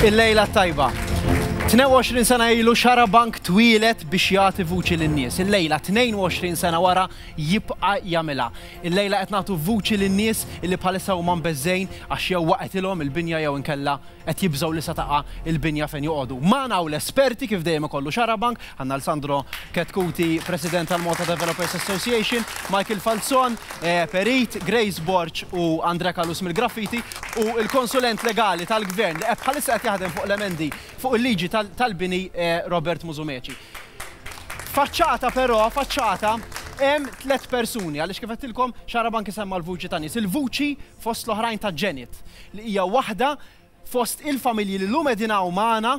Il-lejla tajba. 22 sena ilu xara bank twilet biex jagħti vuċi lin-nies. Il-lejla 22 sena wara jibqa' jagħmilha. Il-lejla qed nagħtu vuċi lin-nies li bħalissa huma mbeżżgħin għax jew waqgħetilhom il-binja jew inkella qed jibżgħu li se taqa' il-binja fejn joqogħdu. Magħna hawn l-esperti kif dejjem ikollu xara bank Għandna lil Sandro Chetcuti, President tal-Malta Developers Association, Michael Falzon, Perit, Grace Borg u Andrea Callus mill-Graffiti, u l-Konsulent Legali tal-Gvern li qed bħalissa qed jaħdem fuq l-emendi fuq il-liġi tal-bini Robert Musumeci. F'faċċata però, faċċata, hemm tliet persuni għaliex kif għedtilkom Xarabank isemma' l-vuċi ta' nies. Il-vuċi fost l-oħrajn ta' Janet li hija waħda Fost il-familji li llum qegħdin hawn magħna,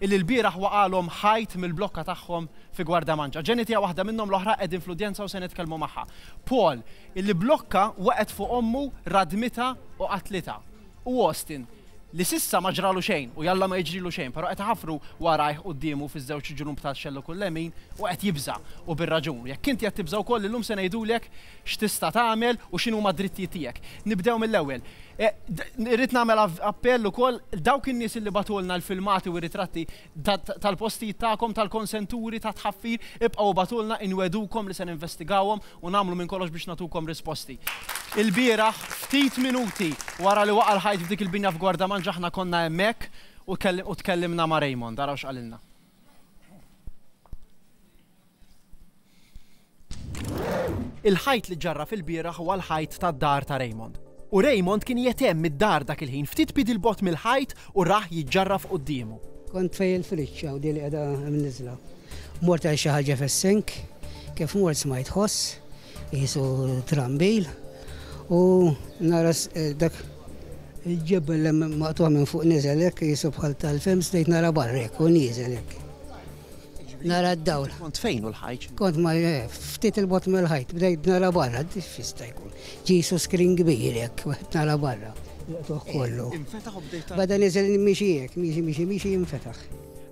illi lbieraħ waqagħlhom ħajt mill-blokka tagħhom fi Gwardamanġa. Jenny tiegħu waħda minnhom l-oħra qegħdin fl-udjenza u se nitkellmu magħha. Paul, illi blokka waqgħet fuq ommu, radmitha u qatlitha. U Austin, li s'issa ma ġralu xejn u jalla ma jiġrilu xejn, però qed iħaffru warajh quddiemu fiż-żewġ ġnub ta' xellug u l-lemin u qed jibża', u bir-raġun. Jekk inti qed tibża' wkoll illum se ngħidulek x'tista' tagħmel u x'inhuma d-drittijiet tiegħek. Nibdew mill-ewwel. Irrid nagħmel appell ukoll dawk in-nies li bagħtulna l-filmati u r-ritratti tal-postijiet tagħkom, tal-konsenturi ta' tħaffir, ibqgħu ibagħtulna, inwegħdukom li se ninvestigawhom u nagħmlu minn kollox biex nagħtukom risposti. Ilbieraħ, ftit minuti wara li waqa' l-ħajt f'dik il-binja f'Gwardamanġa aħna konna hemmhekk u tkellimna ma' Raymond. Araw x'qalilna. Il-ħajt li ġġarraf ilbieraħ huwa l-ħajt tad-dar ta' Raymond. U Raymond kien jgħetemm mid-dar dak il-ħin ftit piedi 'l bogħod mill-ħajt u rah jiġġarraf quddiemu. Kont fej il-fridge, hawn din li qiegħda mniżżla. Mort għajt xi ħaġa fis-sink, kif mort smajt ħoss, qisu trambil, u nara dak il-ġebel maqtugħ minn fuq niżel hekk qisu bħal tal-film, bdejt nara barra hekk u nieżel hekk. Nara d-dawl. Kont fejn u l-ħajt? Kont ma eh, ftit il-bot mill-ħajt, bdejt nara barra, fista jkun. Ġisu skrin kbir jekk, nara barra. Tuħ kollu. Eh, infetaħ u bdejt. Bada nizel miexi jek, miexi miexi miexi infetaħ.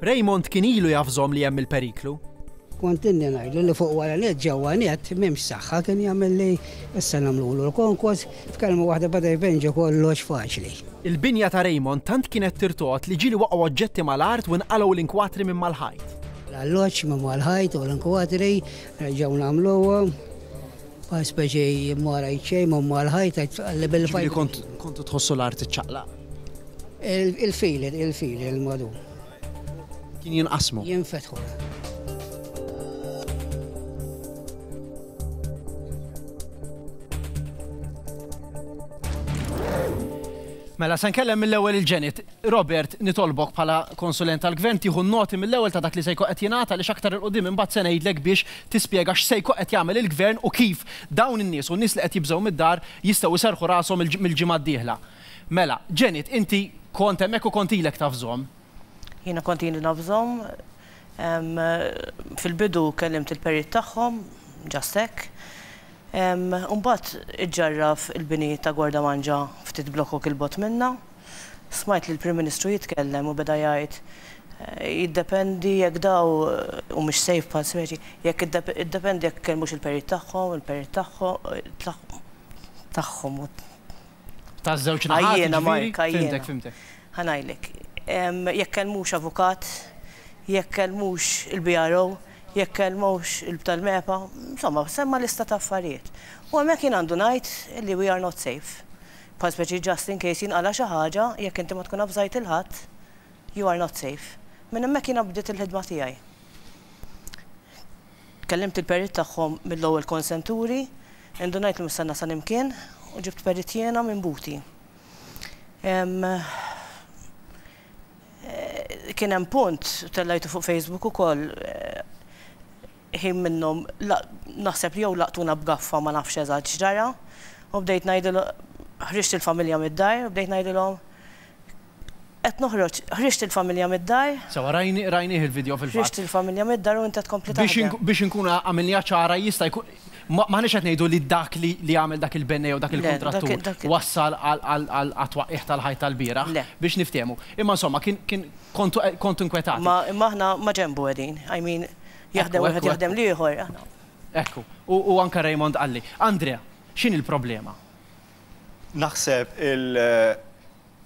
Raymond kien ilu jafżom li hemm il-periklu. Kont inni ngħidlu li fuq wara net ġewwa net m'hemmx saħħa kien jagħmel li issa nagħmlu l-konkos F'kelma waħda bada jbin ġo kollox faċli. Il-binja ta' Raymond tant kienet tirtogħod li ġieli waqgħu oġġetti mal-art u nqalgħu l-inkwatri minn mal-ħajt. L-alloġġ minn mal-ħajt u l-inkwatri reġgħu nagħmluhom bħal speċi ma rajt xejn minn mal-ħajt għax tqalli bil-fajn. Jiġifieri kontu tħossu l-art iċċaqlaq? Il-fili, il-fili, il-madu. Kien jinqasmu. Jinfetħu. Mela, san kellem mill-ewel il-ġenit. Robert, nitolbok bħala konsulent tal-gvern tiħu noti mill-ewel ta' dak li sejko qed jingħata li xaktar il-qudiem imbagħad se ngħidlek biex tispjega x'sejko qed jagħmel il-gvern u kif dawn in-nies u n-nies li qed jibżgħu mid-dar jistgħu jserħu rashom mill-ġimgħa d-dieħla. Mela, Janet, inti kont hemmhekk u kont ilek taf żomm. Jiena kont ili naf żomm. Fil-bidu kellimt il-perit tagħhom, just hekk. U mbagħad iġġarraf il-bini ta' Gwarda Manġa ftit blokok 'il bogħod minna. Smajt lill-Prim Ministru jitkellem u beda jgħid, jiddependi jekk daw humiex safe bħal Smeċi, jekk iddependi jekk ikellmux il-perit tagħhom, il-perit tagħhom, tagħhom u. Taż-żewġ naħat. Għajjiena, Mark, għajjiena. Fhimtek, fhimtek. Ħa ngħidlek. Jekk kellmux avukat, jekk kellmux il-BRO, jekk kellmux il-btal-MEPA, insomma, semma' lista ta' affarijiet. U hemmhekk jien għandu ngħid li we are not safe. Bħal speċi just in case jinqala' xi ħaġa, jekk inti ma tkun avżajt lil ħadd, you are not safe. Minn hemmhekk jiena bdiet il-ħidma tiegħi. Kellimt il-perit tagħhom mill-ewwel konsenturi, Indunajt li mhux se nasal imkien u ġibt perit jiena minn buti. Kien hemm punt, tellajtu fuq Facebook ukoll, ħin minnhom naħseb li jew laqtuna b'gaffa ma nafx eżatt x'ġara u bdejt ngħidilhom, ħriġt il-familja mid-dar u bdejt ngħidilhom, Qed noħroġ. Ħriġt il-familja mid-dar. Sewwa, rajni, rajnih il-video fil-fatt. Ħriġt il-familja mid-dar u inta tkompli taħdem. Biex, biex inkun għamilniha ċara jista' jkun, ma, m'aħniex qed ngħidu li dak li, li għamel dak il-bennej jew dak il-kuntrattur Le, dak, dak wassal għal, għal, għal, għat-twaqqigħ tal-ħajt tal-bieraħ. Le. Biex niftehmu. Imma insomma, kien, kien, kontu, kontu inkwetati. Imma, imma aħna ma' ġenbu qegħdin. I mean, jaħdem wieħed jaħdem l-ieħor, aħna. Ekku. U, u anke Raymond qalli, Andrea, x'inhi l-problema? Naħseb il,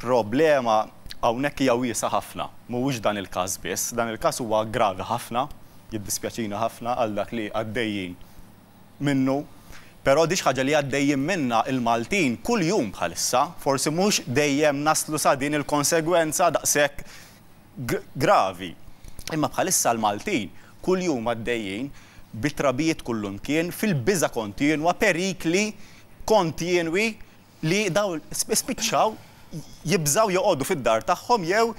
problema hawnhekk hija wiesgħa ħafna. Mhuwiex dan il-każ biss. Dan il-każ huwa gravi ħafna, jiddispjaċini ħafna għal dak li għaddejjin minnu, però di xi ħaġa li għaddejjin minnha l-Maltin kuljum bħalissa. Forsi mhux dejjem naslu sa din il-konsegwenza daqshekk gravi, imma bħalissa l-Maltin kuljum għaddejjin bi trabijiet kullimkien, fil-biża' kontinwa, perikli kontinwi li dawn spiċċaw jibżgħu joqogħdu fid-dar tagħhom jew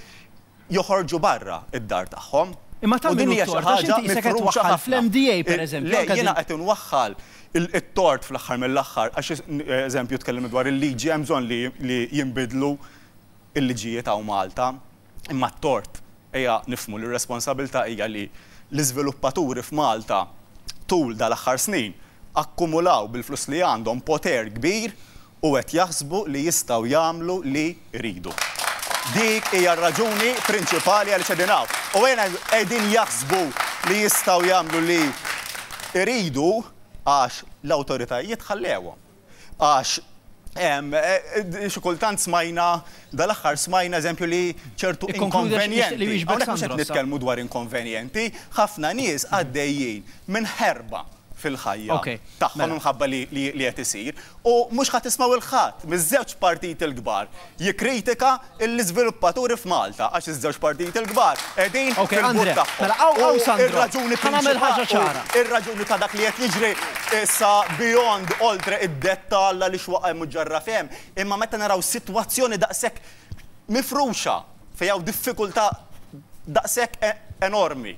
joħorġu barra d-dar tagħhom. Imma ta' min hu t-tort għax inti qisek qed twaħħal fl-MDA pereżempju. Le, jiena qed inwaħħal it-tort fl-aħħar mill-aħħar għax eżempju tkellimna dwar il-liġi hemm bżonn li jinbidlu l-liġijiet hawn Malta. Imma t-tort, ejja nifhmu li r-responsabilità hija li l-iżviluppaturi f'Malta tul dal-aħħar snin akkumulaw bil-flus li għandhom poter kbir u qed jaħsbu li jistgħu jagħmlu li jridu. Dik hija r-raġuni prinċipali għaliex qegħdin hawn. U ejja ngħidu, qegħdin jaħsbu li jistgħu jagħmlu li jridu għax l-awtoritajiet ħallewhom. Għax xi kultant smajna, dal-aħħar smajna eżempju li ċertu inkonvenjenti, hawnhekk mhux qed nitkellmu dwar inkonvenjenti, ħafna nies għaddejjin minn ħerba fil-ħajja tagħhom minħabba li qed isir u mhux ħa tismgħu 'l ħadd miż-żewġ partiti l-kbar jikkritika l-iżviluppaturi f'Malta għax iż-żewġ partijiet il-kbar qegħdin fil-but tagħhom u r-raġuni prinċipali u r-raġuni ta' dak li qed jiġri issa beyond oltre id-dettall għaliex huwa hemm u ġarraf hemm imma meta naraw sitwazzjoni daqshekk mifruxa fejn hawn diffikultà daqshekk enormi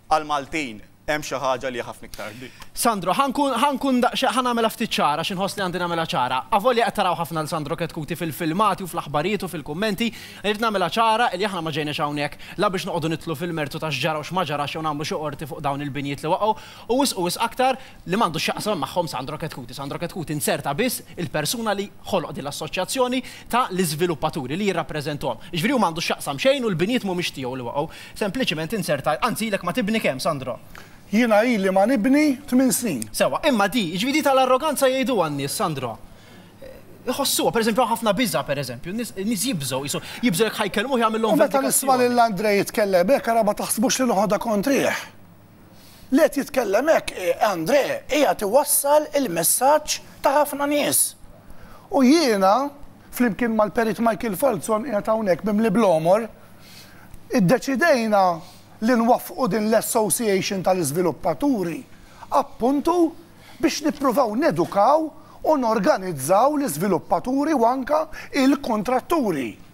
għall-Maltin Hemm xi ħaġa li hija ħafna iktar kbira. Sandro, ħa nkun, ħa nkun daqsxejn, ħa nagħmilha ftit ċara għax inħoss li għandi nagħmilha ċara. Avolja qed taraw ħafna lil Sandro Ketkuti fil-filmati u fl-aħbarijiet u fil-kummenti, irrid nagħmilha ċara li aħna ma ġejniex hawnhekk la biex noqogħdu nidħlu fil-mertu ta' x'ġara u x'ma ġarax jew nagħmlu xi qorti fuq dawn il-binjiet li waqgħu, u wisq u wisq aktar li m'għandu x'jaqsam magħhom Sandro Ketkuti. Sandro Ketkuti nzerta biss il-persuna li ħoloq din l-assoċjazzjoni ta' l-iżviluppaturi li jirrappreżentahom. Jiġifieri hu m'għandu x'jaqsam xejn u l-binjiet mhumiex tiegħu li waqgħu. Sempliċiment inserta, anzi ilek ma tibni kemm, Sandro? Jiena ili ma nibni tmien snin. Sewwa, imma di, jiġifieri di tal-arroganza jgħiduha n-nies, Sandro. Iħossuha, pereżempju hawn ħafna biża' pereżempju, n-nies jibżgħu, qisu, jibżgħu jekk ħa jkellmuh jagħmilhom vendikazzjoni. U meta nisma' lil Andrej jitkellem hekk ara ma taħsbux li noħodha kontrih. Li qed jitkellem hekk hi André qiegħed iwassal il-messaġġ ta' ħafna nies. U jiena, flimkien mal-Perit Michael Falzon qiegħed hawnhekk mimli bl-għomor, iddeċidejna li nwaffqu din l-Association tal-Iżviluppaturi appuntu biex nippruvaw nedukaw u norganizzaw l-iżviluppaturi u anke il-kuntratturi.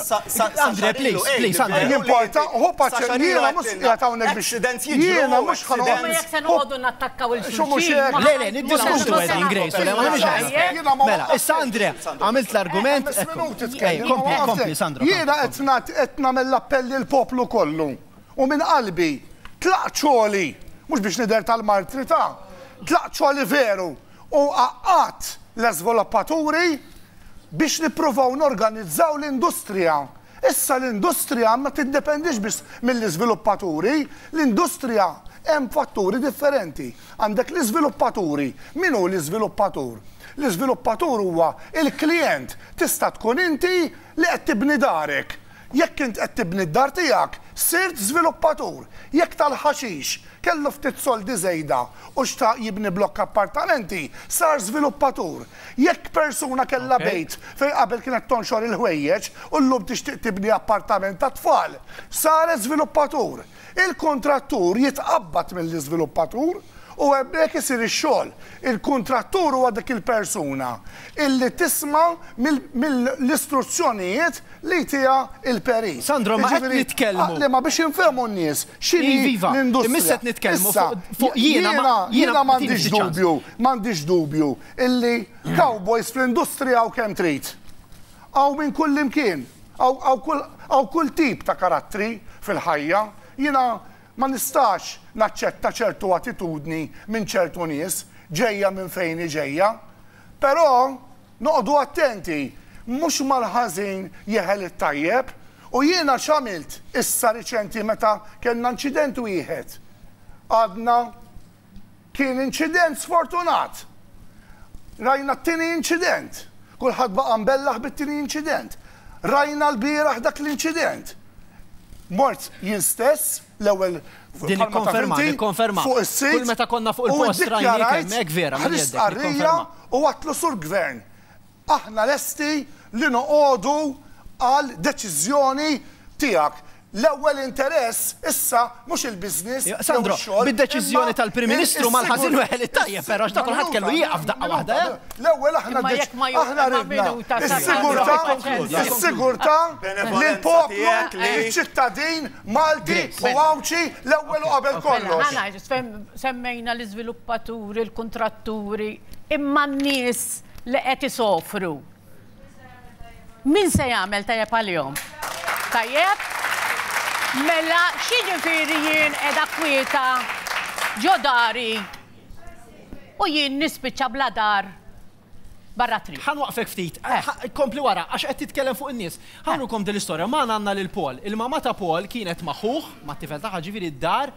Andre, please, please, Andre. Jimporta, hu paċċa, jiena mhux qiegħed hawnhekk biex. Jiena mhux ħa noqgħod. Imma jekk se noqogħdu nattakkaw il xulxin. Le, le, niddiskutu qed ingrejsu le ma Mela, issa Andre, għamilt l-argument. Kompli, kompli, Sandro. Jiena qed nagħmel l-appell lil poplu kollu. U minn qalbi, tlaq ċoli, mhux biex nidher tal-martri ta', tlaq ċoli veru. u għaqqadt l-iżviluppaturi biex nippruvaw norganizzaw l-industrija. Issa l-industrija ma tiddependix biss mill-iżviluppaturi, l-industrija hemm fatturi differenti. Għandek l-iżviluppaturi. Min hu l-iżviluppatur? L-iżviluppatur huwa l-klijent, tista' tkun inti li qed tibni darek, Jekk int qed tibni d-dar tiegħek, sirt żviluppatur. Jekk tal-ħaxix kellu ftit soldi żejda u xtaq jibni blokk appartamenti, sar żviluppatur. Jekk persuna kellha bejt fejn qabel kienet tonxor il-ħwejjeġ u llum tixtieq tibni appartament għat-tfal, saret żviluppatur. Il-kuntrattur jitqabbad mill-iżviluppatur u hemmhekk isir ix-xogħol. Il-kuntrattur huwa dik il-persuna illi tisma' mill-istruzzjonijiet li jtiha il-perit. Sandro, ma qed nitkellmu. Jiġifieri, ma biex infehmu n-nies x'inhi l-industrija. Issa, jiena, jiena m'għandix dubju, m'għandix dubju illi cowboys fl-industrija hawn kemm trid. Hawn minn kullimkien. Hawn kull tip ta' karattri fil-ħajja. Jiena ma nistax naċċetta ċertu attitudni minn ċertu nies, ġejja minn fejn hi ġejja. Però noqogħdu attenti, mhux mal-ħażin jeħel it-tajjeb. U jiena x'għamilt issa riċenti meta kellna inċident wieħed? Għadna Kien inċident sfortunat. Rajna t-tieni inċident. Kulħadd baqa' mbellaħ bit-tieni inċident. Rajna l-bieraħ dak l-inċident. Mort jien stess, l-ewwel Din ikkonferma, ikkonferma. Fuq is-sit. Kull meta konna fuq il-post rajna hekk vera. Ħriġt qarrija u għatlu sur gvern. Aħna lesti li noqogħdu għal deċiżjoni tiegħek. L-ewwel interess issa mhux il-business jew ix-xogħol, imma is-sigurtà. Sandro, bid-deċiżjoni tal-Prim Ministru mal-ħażin weħel it-tajjeb, però għax ta' kulħadd kellu jieqaf f'daqqa waħda, eh? L-ewwel aħna ridna is-sigurtà, is-sigurtà lill-poplu, liċ-ċittadin Malti u Għawdxi l-ewwel u qabel kollox. Semmejna l-iżviluppaturi, l-kuntratturi, imma n-nies. li qed isofru. Min se jagħmel tajjeb għalihom? Tajjeb? Mela x'jiġifieri jien qiegħda kwieta ġo dari u jien nispiċċa bla dar barra triq. Ħa nwaqfek ftit. Eh. Kompli wara, għax qed titkellem fuq in-nies. Ħanukom eh. din l-istorja. Ma għandna lil Paul. Il-mama ta' Paul kienet ma' ħuh, ma' tifel tagħha ġifieri d-dar.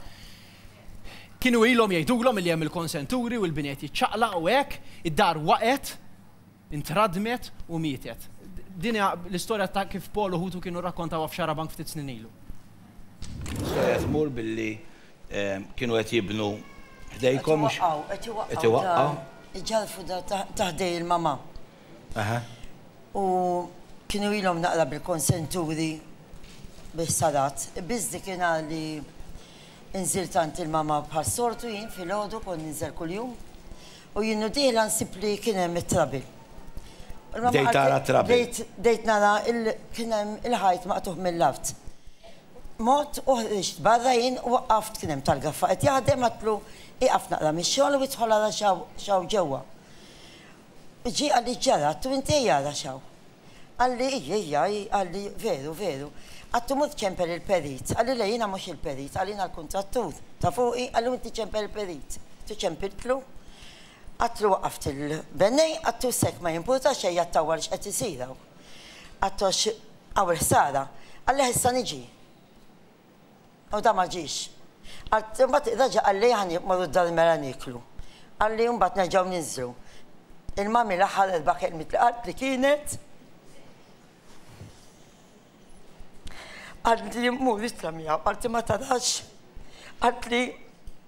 Kienu ilhom jgħidulhom li hemm il-konsenturi u l-bini qed jiċċaqlaq u hekk, id-dar waqgħet, intradmet u mietet. Din hija l-istorja ta' kif Paul u ħutu kienu rrakkontawha f'Xarabank ftit snin ilu. L-istorja tmur billi kienu qed jibnu ħdejkom. Qed iwaqqgħu, qed iwaqqgħu. Iġallfu dar ta' ħdej il-mama. u kienu ilhom naqra bil-konsenturi bi ħsarat, biss dik il-għa li nżilt għand il-mamma bħas-soltu jien filgħodu, kont ninżel kuljum, u jien u dieħla nsib li kien hemm it-trabil. Bdejt tara t-trabil? Bdejt nara li kien hemm il-ħajt maqtugħ mill-art. Mort u ħriġt barra jien u waqaft, kien hemm tal-gaffa qed jaħdem, għedtlu ieqaf naqra mix-xogħol u idħol ara x'hawn ġewwa. Ġie qalli ġara għattu intej ara x'hawn. Qalli ijj ijj ijj qalli veru veru. Għattu mur ċempel il-perit. Qalli le jiena mhux il-perit qalli jiena l-kuntrattur ta' fuqi qalli u inti ċempel il-perit. Għattu ċempiltlu. Għatlu waqaft il-bennej għattu s'hekk ma jimpurta xejn għattu awa lix qed isir hawn. Għattu għax hawn il-ħsara. Qallih issa niġi. U dan ma ġiex. Għad, imbagħad reġa' qalli aħna mmorru d-dar il-mera nieklu. Qalli u mbagħad nerġgħu ninżlu. Il-mummy l-aħħar erba' kelmiet li qaltli kienet, Qaltli mmur itla' miegħu, qaltli ma tarax, qaltli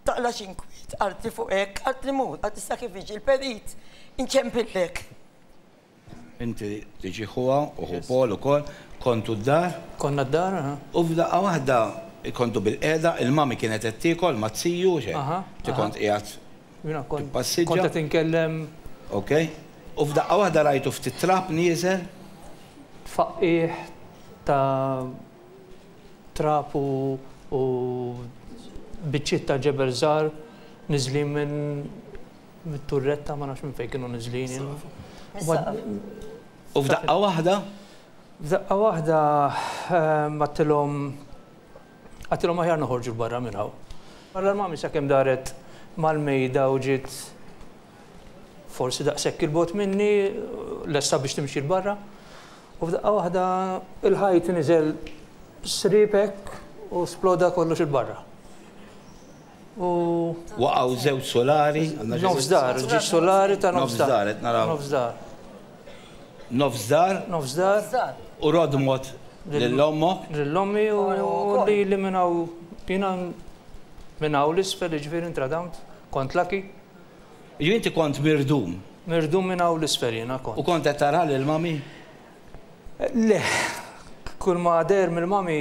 taqlax inkwiet, qaltli fuq hekk, qaltli mur, qaltli sa kif jiġi l-perit inċempillek. Inti tiġi ħuha u ħu Paul ukoll. Kontu d-dar. Konna d-dar, aha. U f'daqqa waħda kontu bilqiegħda, il-mummy kienet qed tiekol ma' t-tiju u xejn. Aha, aha. Inti kont qiegħed tippassiġġa. Kont qed inkellem. Ok. U f'daqqa waħda rajtu ftit trab nieżel. Tfaqqigħ ta' trab u biċċiet ta' ġebel żgħar niżlin minn. mit-turretta ma nafx minn fejn kienu niżlin. U f'daqqa waħda? F'daqqa waħda għattilhom għattilhom aħjar noħorġu barra minn hawn. Barra l-mami sakemm daret mal-mejda u ġiet forsi daqshekk il-bot minni lesta biex timxi l-barra. U f'daqqa waħda il-ħajt niżel sripek u sploda kollox il-barra. Waqgħu żewġ sulari. Nofs dar, ġie sulari ta' nofs dar. Nofs dar, qed naraw. Nofs dar. Nofs dar. Nofs dar. U rodmot lil ommok. Lil ommi u lili minn hawn. Jiena minn hawn l-isfel, jiġifieri ntradawmt, kont lucky. Jiġifieri inti kont mirdum? Mirdum minn hawn l-isfel jiena kont. U kont qed taraha lil mami? Le. Kulma deher mill-mami.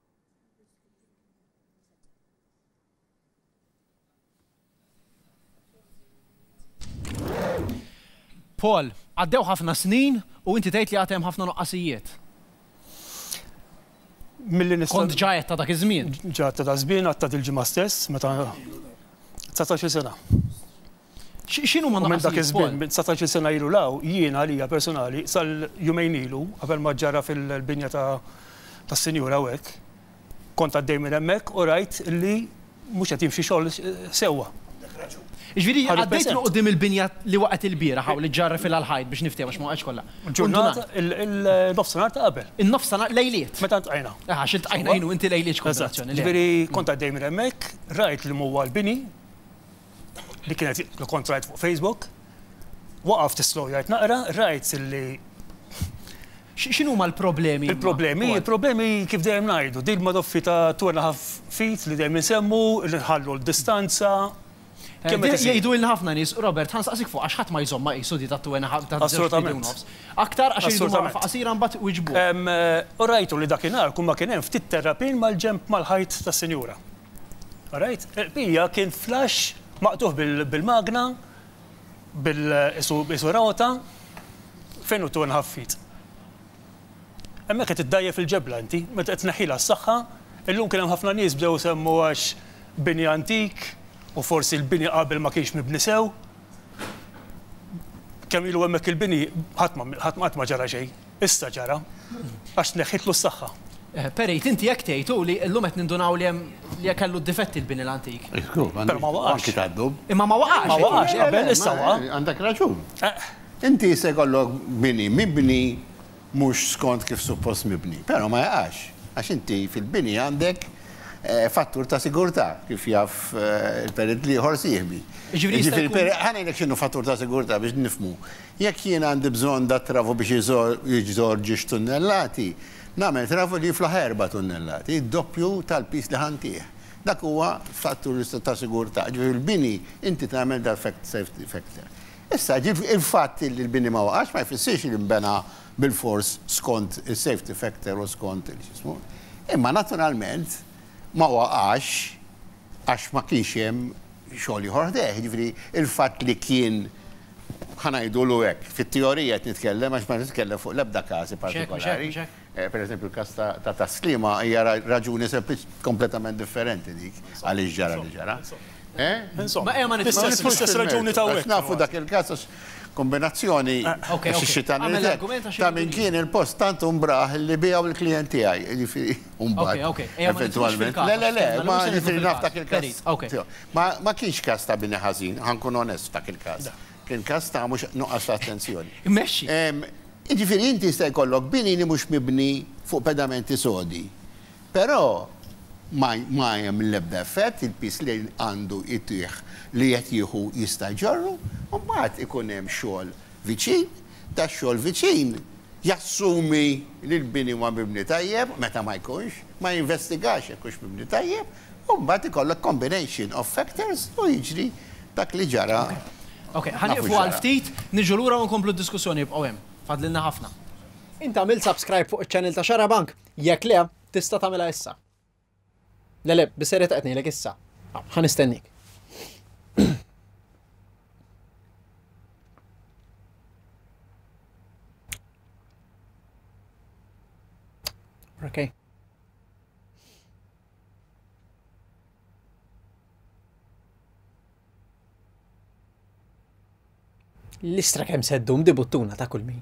Paul, għaddew ħafna snin u inti tgħid li għatem ħafna nuqqasijiet. Milli nista' Kont ġajet ta' dak iż-żmien. Ġajet ta' dak żmien għatta dil-ġimgħa stess meta 19 sena. X'inhuma n-nuqqasijiet? U minn dak iż-żmien, minn dsatax-il sena ilu 'l hawn, jien għalija personali, sal-jumejn ilu, qabel ma ġara fil-binja tas-Sinjur hawnhekk, kont għaddej minn hemmhekk u rajt li mhux qed jimxi xogħol sewwa. Għandek raġun. Jiġifieri għaddejt minn quddiem il-binja li waqgħet il-bieraħ hawn li ġġarrifilha l-ħajt biex niftehmu għax ma waqgħetx kollha. Ġurnata, il-nofsinhar ta' qabel. Il-nofsinhar, lejliet. Meta ltqajna. Eh, għax iltqajna jien u inti lejliet x'kombinazzjoni. Eżatt. Jiġifieri kont għaddej minn hemmhekk, rajt li m'huwa l-bini. li kienet li kont rajt fuq Facebook, waqaft islowjajt naqra, rajt li Xinu ma l-problemi? Il-problemi, il-problemi kif dejjem ngħidu, din ma doffi ta' twerna ħaf fit li dejjem insemmu, li nħallu l-distanza, Kemm qed jgħidu il ħafna nies, Robert, ħan saqsik fuq għax ħadd ma jżomma qisu di tat-twena ta' Assolutament. Aktar għax irridu waqfa qasira mbagħad wiġbu. U rajtu li dakinhar kull ma kien hemm ftit terrapin mal-ġenb mal-ħajt tas-sinjura. Rajt, il-qbija kien flash maqtugħ bil-magna, bil qisu rota, fejn hu two and half feet. Hemmhekk qed iddgħajjef il-ġebla inti, meta qed tneħħilha s-saħħa, illum kien hemm ħafna nies bdew isemmu għax bini antik u forsi l-bini qabel ma kienx mibni sew. Kemm ilu hemmhekk il-bini, ħadd ma qatt ma ġara xejn. Issa ġara, għax tneħħitlu s-saħħa. Perejt, inti hekk tgħid, u li llum qed nindunaw li hemm, li kellu d-difetti l-bini l-antik. Żgur, ma għandux. Però ma waqax. Anki tad-dub. Imma ma waqax. Ma waqax qabel, issa waqa'. Għandek raġun. Inti jista' jkollok bini mibni mhux skont kif suppost mibni, però ma jaqax, għax inti fil-bini għandek fattur ta' sigurtà, kif jaf il-perit l-ieħor sieħbi. Jiġifieri jista' jkun. Jiġifieri l-perit, ħa ngħidlek x'inhu fattur ta' sigurtà biex nifhmu. Jekk jien għandi bżonn dat-travu biex iżorr ġiex tunnellati, nagħmel travu li jiflaħ erba' tunnellati, id-doppju tal-piż li ħa ntiegħ. Dak huwa fattur ta' sigurtà. Jiġifieri l-bini inti tagħmel defect safety factor. Issa, jiġifieri il-fatt li l-bini ma waqax ma jfissirx li nbena bilfors skont is-safety factor u skont il-x'ismu. Imma naturalment ma waqax għax ma kienx hemm xogħol ieħor ħdejh. Jiġifieri il-fatt li kien Ħa ngħidulu hekk, fit-teorija qed nitkellem għax ma qed nitkellem fuq l-ebda każi partikolari. Pereżempju l-każ ta' Tas-Sliema hija raġuni kompletament differenti dik għaliex ġara li ġara. Insomma, ejja ma nidħlux fl-istess raġuni ta' hawnhekk. Nafu dak il-każ għax kombinazzjoni ta' min kien il-post tant hu mbraħ li biegħu lill-klijent tiegħi. Ejja ma nidħlux fil-każ. Le, le, le, ma jiġifieri naf dak il-każ. Ma ma kienx każ ta' bini ħażin, ħa nkun onest f'dak il-każ. Kien każ ta' mhux nuqqas ta' attenzjoni. Immexxi. Jiġifieri inti jista' jkollok bini li mhux mibni fuq pedamenti sodi, però ma ma hemm l-ebda effett, il-piż li għandu jtih li qed jieħu jista' jġorru, u mbagħad ikun hemm xogħol viċin, dax-xogħol viċin jassumi li l-bini huwa mibni tajjeb, meta ma jkunx, ma jinvestigax jekk hux mibni tajjeb, U mbagħad ikollok combination of factors u jiġri dak li ġara. Ok, ħa nieqfu għal ftit, niġu lura u nkomplu d-diskussjoni, ibqgħu hemm. Fadlilna ħafna. Int għamilt subscribe fuq iċ-channel ta' Xarabank? Jekk le, tista' tagħmilha issa. Le le, bis-serjetà qed ngħidlek issa. Ħa nistennik. Okay. L-istra kemm seddum di buttuna ta' kull min.